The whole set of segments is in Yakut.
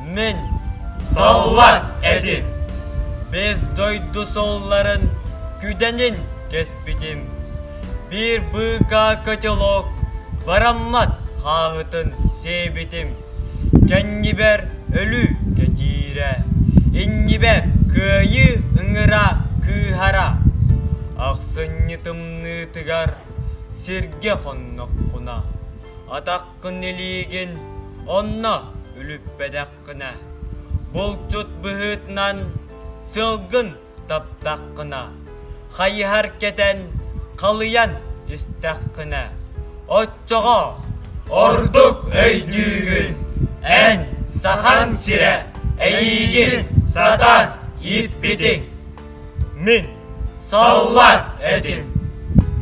Мин саллат этим. Без дойду солларын күдэнин кэспитим. Биир быыкаа котелок бараммат хааһытын сиэбитим. Кэннибэр өлүү кэтиирэ, иннибэр кыайыы ыҥыра кыыһара. Ахсынньы тымныытыгар Сиргэ хонноххуна, атаххын илиигин онно үлүппэтэххинэ, булчут быһыытынан сылгын таптаххына, хайыһар кэтэн халыйан истэххинэ, оччоҕо ордук өйдүүгүн, эн Сахан сирэ эйиигин сатаан ииппитиҥ. Мин Саллат этим.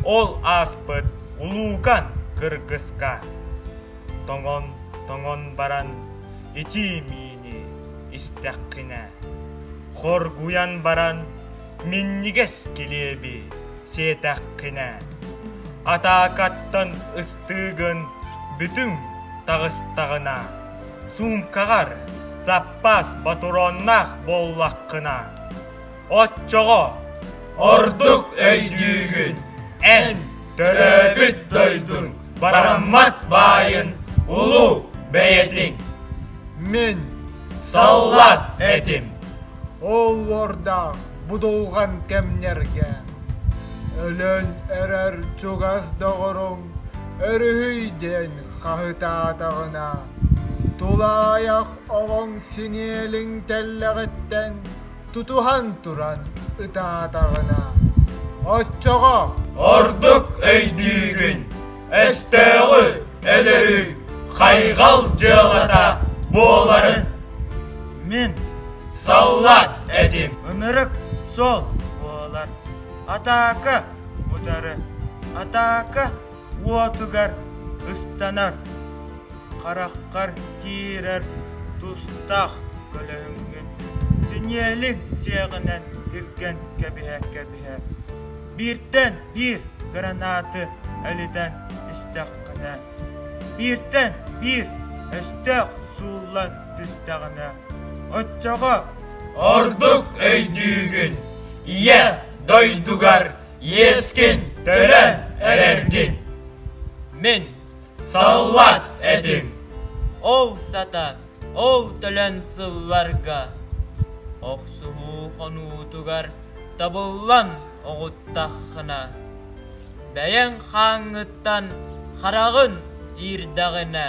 Ол ааспыт улуукан кыргыска тоҥон тоҥон баран итии миини истэххинэ хоргуйан баран минньигэс килиэби сиэтэххинэ атаакаттан ыстыыгын бүтүҥ таҕыстаҕына суумкаҕар заппаас ботуруоннаах буоллаххына Оччоҕо ордук өйдүүгүн, эн төрөөбүт дойдуҥ Бараммат баайын улуу бэйэтиҥ. Мин саллат этим. Ол уордаах будулҕан кэмнэргэ өлөн эрэр чугас доҕоруҥ өрүһүй диэн хаһытаатаҕына тулаайах оҕоҥ синиэлиҥ тэллэҕиттэн Тутуһан туран ытаатаҕына оччоҕо ордук өйдүүгүн өстөөҕү өлөрүү хайҕал дьыалата буоларын мин саллаат этим ынырык суол буолар атака утары атака уотугар ыстанар, хараххар киирэр тустаах көлөһүҥҥүн синиэлиҥ сиэҕинэн илгэн кэбиһэ-кэбиһэ бииртэн биир гранаты элитэн истэххинэ, бииртэн биир өстөөх сууллан түстэҕинэ, оччоҕо ордук өйдүүгүн Ийэ дойдугар иэскин төлөн эрэргин мин саллат этим ол сатар ол төлөн сылларга охсуһуу хонуутугар табыллан оҕуттаххына бэйэҥ хааҥҥыттан хараҕын иирдэҕинэ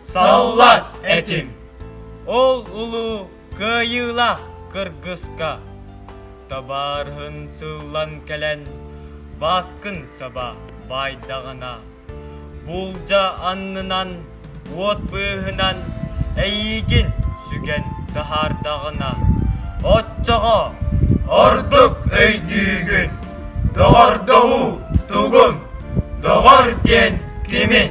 Саллат этим. Ол улуу кыайыылаах кыргыска табаарыһын сыллан кэлэн баскын саба байдаҕына буулдьа аннынан уот быыһынан эйиигин сүгэн таһаардаҕына оччоҕо ордук өйдүүгүн доҕордоһуу тугун доҕор диэн кимин